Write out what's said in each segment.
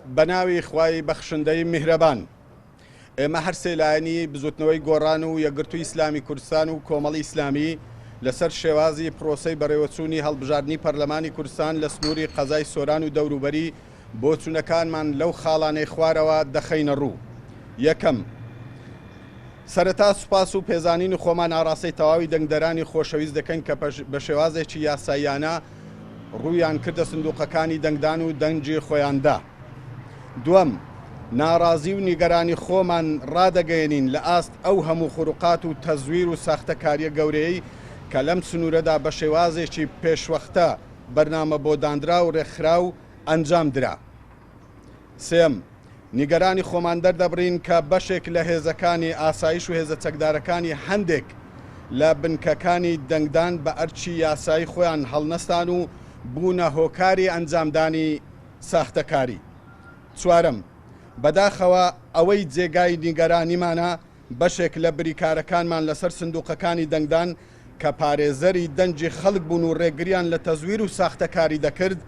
بەناوی خوای بەخشندەی میهرەبان. ئێمە هەر سێ لایەنی بزوتنەوەی گۆڕان و یەکگرتووی ئیسلامی کوردستان و کۆمەڵی ئیسلامی لەسەر شێوازی پرۆسەی بەڕێوەچوونی هەڵبژاردنی پەرلەمانی کوردستان لە سنووری قەزای سۆران و دەوروبەری بۆچوونەکانمان لەو خاڵانەی خوارەوە دەخەینە ڕوو یەکەم سەرەتا سوپاس و پێزانینی خۆمان ئاڕاستەی تەواوی دەنگدەرانی خۆشەویست دەکەین کە بە شێوازێکی یاساییانە ڕوویان کردە سندوقەکانی دەنگدان و دەنگی خۆیان دا. دوەم، ناڕازی و نیگەرانی خۆمان ڕادەگەیەنین لە ئاست ئەو هەموو خروقات و تەزویر و ساختەکاریە گەورەیەی کە لەم سنورەدا بە شێوازێکی پێشوەختە، بەرنامە بۆ داندراو، ڕێکخراو، ئەنجام درا. سێیەم، نیگەرانی خۆمان دەردەبڕین کە بەشێک لە هێزەکانی ئاسایش و هێزە چەکدارەکانی هەندێک لە بنکەکانی دەنگدان بە ئەرکی یاسایی خۆیان هەڵنەستان و بوونە هۆکاری ئەنجامدانی ساختەکاری. چوارەم، بەداخەوە ئەوەی جێگای نیگەرانیمانە بەشێک لە بریکارەکانمان لەسەر سندوقەکانی دەنگدان کە پارێزەری دەنگی خەڵک بوون و رێگریان لە تەزویر و ساختەکاری دەکرد،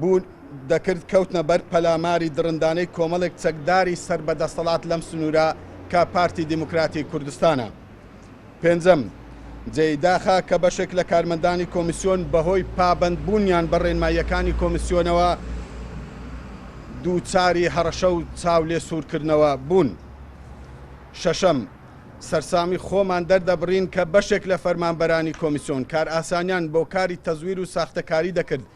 بوون دەکرد، کەوتنە بەر پەلاماری دڕندانەی کۆمەڵێک چەکداری سەر بە دەسەڵات لەم سنوورە کە پارتی دیموکراتی کوردستانە. پێنجەم، جێی داخە کە بەشێک لە کارمەندانی کۆمیسیۆن بەهۆی پابەندبوونیان بە ڕێنماییەکانی کۆمیسیۆنەوە دووچاری هەڕەشە و چاولێسوورکردنەوە بوون. شەشەم، سەرسامی خۆمان دەردەبڕین کە بەشێک لە فەرمانبەرانی کۆمیسیۆن کارئاسانیان بۆ کاری تەزویر و ساختەکاری دەکرد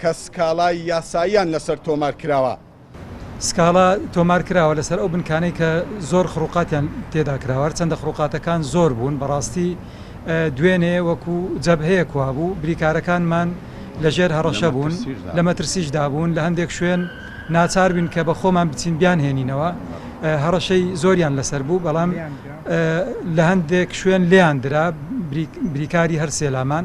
کە سکاڵای یاساییان لەسەر تۆمار کراوە. سکاڵا تۆمار کراوە لەسەر ئەو بنکانەی کە زۆر خڕوقاتیان تێدا کراوە، هەرچەندە خڕوقاتەکان زۆر بوون، بەڕاستی دوێنێ وەکو جەبهەیەک وابوو، بریکارەکانمان لەژێر هەڕەشە بوون، لە مەترسیشدا بوون، لە هەندێک شوێن ناچار بووین کە بە خۆمان بچین بیانهێنینەوە، هەڕەشەی زۆریان لەسەر بوو، بەڵام لە هەندێک شوێن لێیان درا، بریکاری هەر سێ لامان.